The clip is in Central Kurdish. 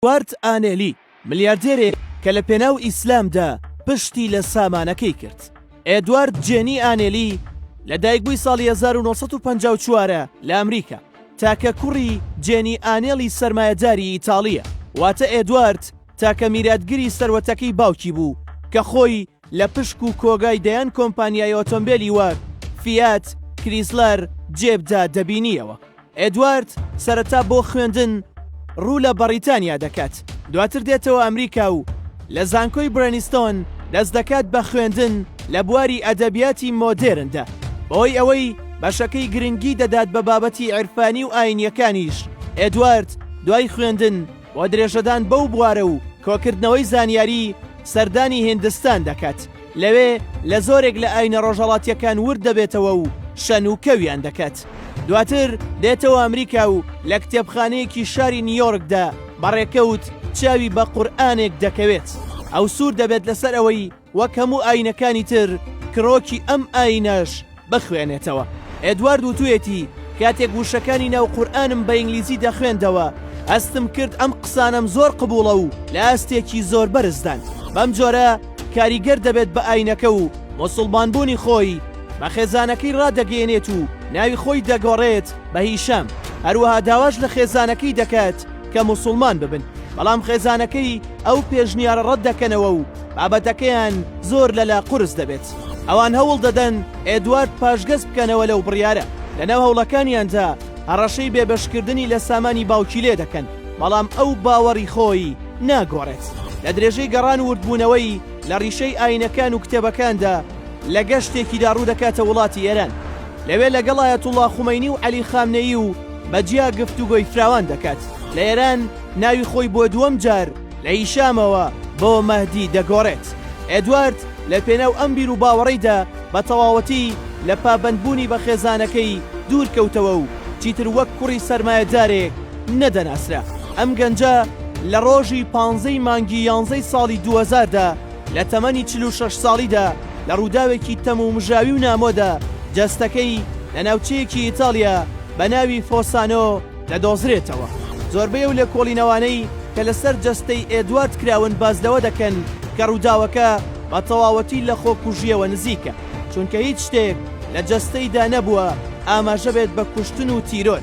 ئێدوارد ئانێلی، ملیاردێرێک کە لە پێناو ئیسلامدا پشتی لە سامانەکەی کرد. ئێدوارد جێنی ئانێلی لە دایکبووی ساڵی هەزار و نۆ سەد و پەنجا و چوار ە لە ئەمریکا. تاکە کوڕی جێنی ئانێلی سەرمایەداری ئیتاڵییە، واتە ئێدوارد تاکە میراتگری سەروەتەکەی باوکی بوو کە خۆی، لە پشک و کۆگای دەیان کۆمپانیای ئۆتۆمبێلی وەک، فیات، کریسلەر، جێبدا دەبینییەوە. ئێدوارد سەرەتا بۆ خوێندن ڕوو لە بەڕیتانیا دەکات، دواتر دێتەوە ئەمریکا و لە زانکۆی برێنیستۆن دەست دەکات بە خوێندن لە بواری ئەدەبیاتی مۆدێرندا. بەهۆی ئەوەی بەشەکەی گرنگی دەدات بە بابەتی عیرفانی و ئایینییەکانیش، ئێدوارد دوای خوێندن، بۆ درێژەدان بەو بوارە و کۆکردنەوەی زانیاری سەردانی هیندستان دەکات، لەوێ لە زۆرێک لە ئاینە ڕۆژهەڵاتیەکان ورد دەبێتەوە و شەن و کەویان دەکات. دواتر دێتەوە ئەمریکا و لە کتێبخانەیەکی شاری نیۆرکدا بە ڕێکەوت چاوی بە قورئانێک دەکەوێت، ئەو سوور دەبێت لەسەر ئەوەی، وەک هەموو ئاینەکانی تر کڕۆکی ئەم ئاینەش بخوێنێتەوە ئێدوارد وتوێتی کاتێک وشەکانی ناو قورآانم بە ئینگلیزی دەخوێندەوە ئەستم کرد ئەم قسانم زۆر قبوڵە و لە ئاستێکی زۆر بەرزدان بەم جۆرە کاریگەر دەبێت بە ئاینەکە و مسلمانبوونی خۆی بە خێزانەکەی ڕادەگەێنێت و ناوی خۆی دەگۆڕێت بە هیشام هەروەها داواش لە خێزانەکەی دەکات کە موسوڵمان ببن، بەڵام خێزانەکەی ئەو پێشنیارە ڕەت دەکەنەوە و بابەتەکەیان زۆر لەلا قورس دەبێت. ئەوان هەوڵ دەدەن ئێدوارد پاشگەز بکەنەوە لەو بڕیارە، لەناو هەوڵەکانیاندا هەڕەشەی بێبەشکردنی لە سامانی باوکی لێ دەکەن، بەڵام ئەو باوەڕی خۆی ناگۆڕێت. لە درێژەی گەڕان و وردبوونەوەی لە ڕیشەی ئاینەکان و کتێبەکاندا، لە گەشتێکیدا ڕوو دەکاتە وڵاتی ئێران، لەوێ لەگەڵ ئایەتوڵڵا خومەینی و عەلی خامنەیی و بە جیا گفتوگۆی فراوان دەکات لە ئێران ناوی خۆی بۆ دووەم جار لە هیشامەوە بۆ مەهدی دەگۆڕێت ئێدوارد لە پێناو ئەم بیر و باوەڕیدا بە تەواوەتی لە پابەندبوونی بە خێزانەکەی دوور کەوتەوە و چیتر وەک کوڕی سەرمایەدارێک نەدەناسرا ئەم گەنجە لە ڕۆژی پانزەی مانگی یانزەی ساڵی 2000دا لە تەمەنی چل و شەش ساڵیدا لە ڕووداوێکی تەمومژاوی و نامۆدا جەستەکەی لە ناوچەیەکی ئیتاڵیا بە ناوی فۆسانۆ دەدۆزرێتەوە. زۆربەی ئەو لێکۆڵینەوانەی کە لەسەر جەستەی ئێدوارد کراون باس لەوە دەکەن کە ڕووداوەکە بە تەواوەتی لە خۆکوژییەوە نزیکە، چونکە هیچ شتێک لە جەستەیدا نەبووە ئاماژە بێت بە کوشتن و تیرۆر.